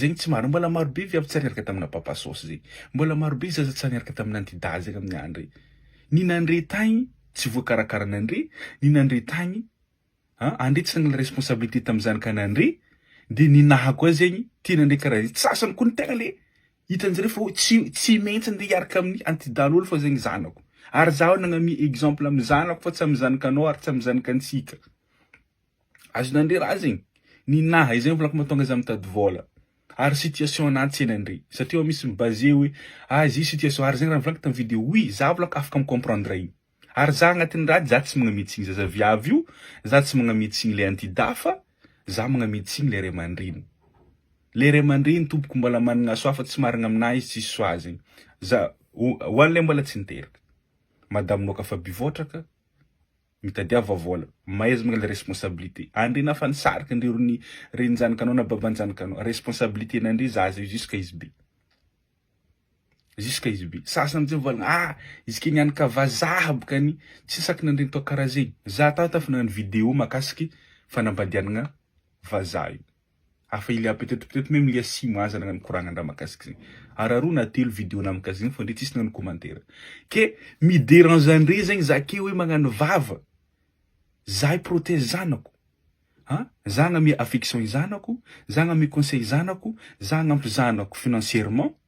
Zegny tsy marigny, mbola marobe viavy tsy niaraka tamina papa sôsy zay, mbola marobe zaza tsy niaraka tamina anti dahy zegny aminy andre, ny nandre tagny tsy voakarakaranandre, ny nandre tagny an andre tsy nanala responsabilité taminy zanakanandre, de ny naha koa zegny tia nandre kara zegny, sasany koa ny tegna le hitanjare fa tsy tsy maintsy ande hiaraka aminy anti dahy lolo fa zegny zanako, ary zaho nagnamia exemple aminy zanako fa tsy aminy zanakanao ary tsy aminy zanakantsika. Azonao ndry raha zegny ny naha izay volako mahatonga za mitady vôla ary situation ana tsena ndry satria ao misy mi base oe ah izy io situation ary zegny raha volako tam video oui za volako afaka mi comprendre igny ary za agnatin'ny raha za tsy magname tsigny zaza viavy io za tsy magname tsigny le anti da fa za magname tsigny le ray aman-dreny le ray aman-dreny tompoko mbola managna soa fa tsy marigna aminah izy tsisy soa zegny za ho anle mbola tsy niteraka madamo noka fa bivôtraka. Mitadiava vola. Maizina ilay responsabilité. Andry nafa nisarika ndry ry ny reny njanikanao na baba njanikanao. Responsabilité n'Andry zaza io jusqu'à izy be. Jusqu'à izy be. Sasany tsy mivalona ah izy kay nianika vazaha bokany tsy saky nandre ny toa karaha zegny. Za tato efa nagnano vidéo makasiky fanambadianagna vazaha io. Afa ilia peut-être peut-être meme ilia simo aza na mikoragna ndra makasika zegny ary aroa na telo video na mikasika zegny fô ndre tsisy nagnano commentaire ke mi derange andre zegny za ke oe magnano vava za i protège zanako ha za agname affection i zanako za agname conseil i zanako za agnampy zanako financièrement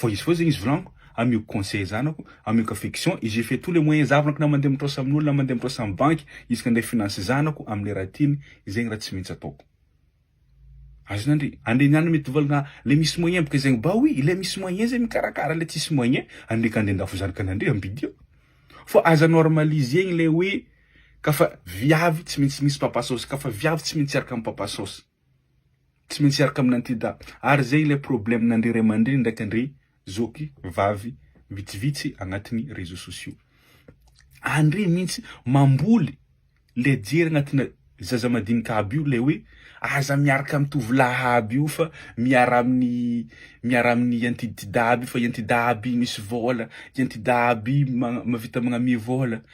Vao izy vao zegny izy volagniko, ameko conseil zanako, ameko affection et je fais tous les moyens zahavako na mandeha mitraosa amin'olo na mandeha mitraosa amin'ny banky isaka andeha finance zanako amle raha tiany, zegny raha tsy maintsy ataoko. Azon'andre, andre niany mety volagna le misy moyen boka zegny ba oui le misy moyen zegny mikarakara le tsisy moyen andre ka andeha andafo zanakan'andre ampidio fa aza normaliser-gny le hoe kafa viavy tsy maintsy misy papa saosy, kafa viavy tsy maintsy hiaraka amin'ny papa saosy. Tsy maintsy hiaraka amin'ity da. Ary zay ilay problème n'andri ray aman-dreny ndraiky andri zoky vavy vitsivitsy agnatin'ny réseaux sociaux. Andri mintsy mamboly le jery agnatina zaza madinika aby io le hoe aza miaraka amin'ny tovolahy aby io fa miara amin'ny miara amin'ny antiditida aby io fa i antida aby misy vôla, i antida aby ma- mavita magnamia vôla.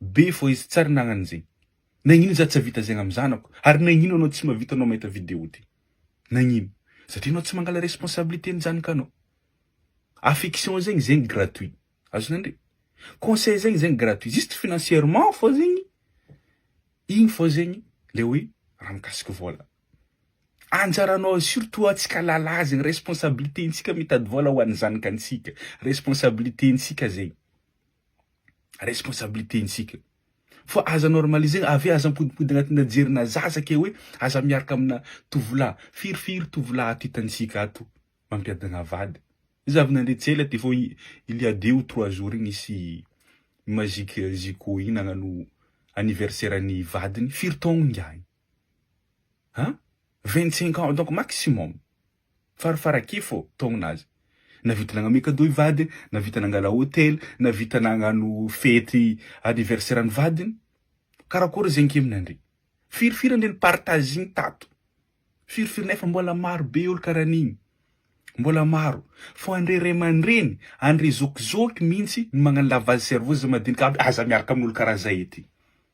be fô izy tsary nagnano zegny nagnino za tsy avita zegny amy zanako ary nagnino anao tsy mavita anao mahita video ty nagnino satria anao tsy mangala responsabilité ny janakanao affection zegny zegny gratuit azo nandre conseil zegny zegny gratuit juste financièrement fô zegny igny fô zegny le hoe raha mikasiky vôla anjaranao surtout antsika lala zegny responsabilité ntsika mitady vôla ho an'ny zanakantsika responsabilité ntsika zegny. responsabilité ntsika fa aza normaliser avy aza ampodipody agnatina jerina zaza ke hoe aza miaraka amina tovolahy firy firy tovolahy ato hitantsika ato mampiadagna vady iza avy nandre tsy ela ty fô il ya deux ou trois jours igny nisy magique zico igny nagnano anniversaire ny vadiny firy taogno ngiahy a vingt cinq ans donc maximum. Farafarakefo taogna aza. Nahavita nagname cadeau i vadiny, nahavita nangala hotely, nahavita nagnano fety anniversaire an'i vadiny. Karakory ze ankeminandre? Firy firy andre ny partage-ny tato? Firy firy nefa mbola maro be olo kara an'igny. Mbola maro. Fô andre ray aman-dreny, andre zokizôky mintsy no magnano lavage cerveau za madinika aby, aza miaraka amin'olo kara zay ety.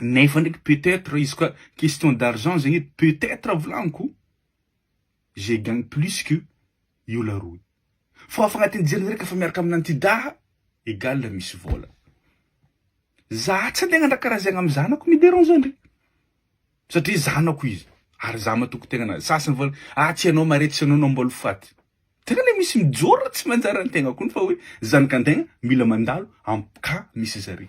Nefa ndraiky peut etre izy koa question d'argent zegny edy peut etre volagniko je gagne plus que io la roue fa efa agnatin'ny jeriny reka efa miaraka amina antidaha egal misy vola za tsy andeha agnandraka karaha zegny am zanako mi derange andry satria zanako izy ary za matoky tegnanazy sasany vola ah tsy anao mare tsy anao no ambôly faty tegna le misy mijoro tsy manjary antegna kony fa hoe zanakantegna mila mandalo am ka misy zare.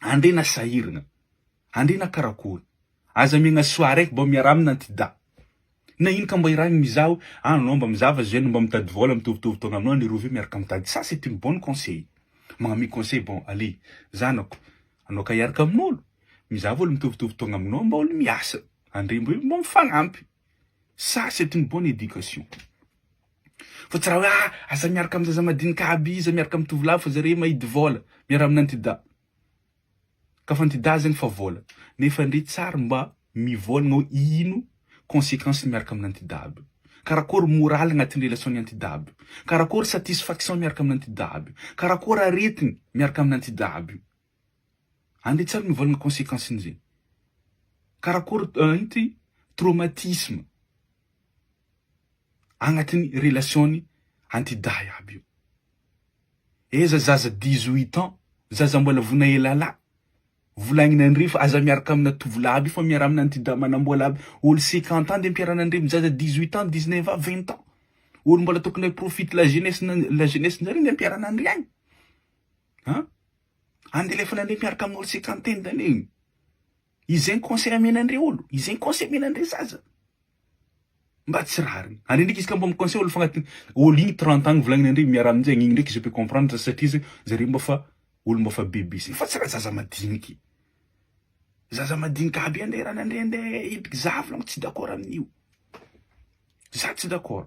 Andriana sahirana. Andriana karakory. Aza miagna soa araiky bô miaraha amina anty da. Na ino ka mba irahigny mizaho agny anao mba mizava zay anao mba mitady vôla mitovitovy taona aminao an'i Rovi miaraka mitady ça c'est une bonne conseil magnamia conseil bon allez zanako anao ka hiaraka amin'olo mizava olo mitovitovy taogna aminao mba olo miasa andriamby mba mifagnampy ça c'est une bonne éducation. Fa tsy raha hoe ah aza miaraka amin'ny zaza madinika aby iza miaraka amin'ny tovolahy fa zareo mahidy vola miaraha amin'ny antidahy ka fa antidahy zegny fa vola nefa ndry tsary mba mivolagna hoe ino consequence ny miaraka amin'ny antidahy aby karakôry moraly agnatin'ny relation ny antidahy aby karakôry satisfaction miaraka amin'ny antidahy aby karakôry aretigny miaraka amin'ny antidahy aby. Andeha tsara ny vola ny consequence n'izay. Karakory inty traumatisme agnatin'ny relation-ny anty dahy aby io. Eza zaza dix huit ans, zaza mbola vona elala, volagniny andre fa aza miaraka amina tovolahy aby io fa miaraha amina anty dahy manambola aby, olo cinquante ans de mpiarana andre am zaza dix huit ans, dix neuf ans, vingt ans. Olo mbola tokony hi profite la jeunesse-na la jeunesse-ndreo anie mpiarana andre agny. An! Andeha alefany an'ireny miaraka amin'ny olo cinquante teny ireny e! Izay ny conseil amena an'ireo olo, izay ny conseil amena an'ireo zaza. Mba tsy rariny. Ary ndreky izy ka mba mi-conseil olo fagnatiny olo igny trente ans volagniny andreo miaraha amin'izay igny ndreky je peux comprendre satria zay zareo mba fa olo mba fa bebe sisa fa tsy raha zaza madiniky. Zaza madinika aby andeha ranandria andeha hipiky za volagno tsy d'accord amin'io. Za tsy d'accord.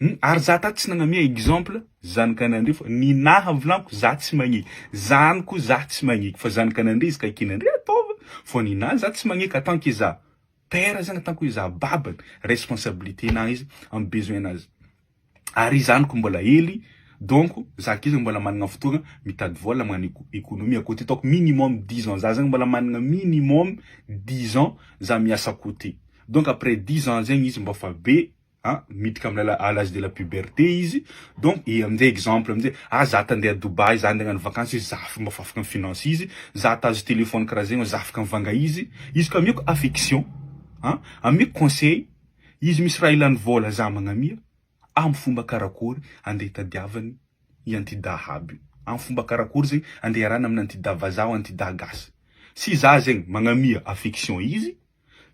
Hum ary za tato tsy nagnamia exemple zanakanandria fa ny naha vilagno za tsy magnia zanako za tsy magnia fa zanakanandria izy ka ekenandria ataova fa ny naha za tsy magnia ka tant que za père zany tant que za babany responsabilité naha izy am besoin nazy ary zanako mbola hely donc za kely mbola managna fotoagna mitady vôla magnano éco- économie à côté ataoko minimum dix ans za zany mbola managna minimum dix ans za miasa à côté donc après dix ans zegny izy mbô fa be a miditra amina à l'âge de la puberté izy donc i amin'izay exemple amin'izay ah za te handeha Dubaï za handeha hagnano vakansy izy za mba afaka mi-finance izy za te hahazo téléphone karaha zegny za afaka mivanga izy izy ka ameko affection a ameko conseil izy misy raha ilany vôla za magnamia amy fomba karakôry andeha hitadiavany i antidaha aby io amy fomba karakôry zegny andeha hiarahana amina antidaha vazaha antidaha gasy sy za zegny magnamia affection izy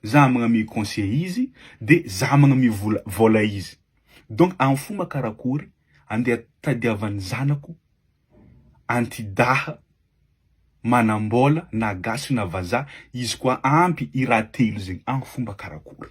Za magname conseil izy de za magname vola vola izy donc am fomba karakory andeha tadiavan'ny zanako antidaha manambola na gasy na vazaha izy koa ampy i raha telo zegny am fomba karakory.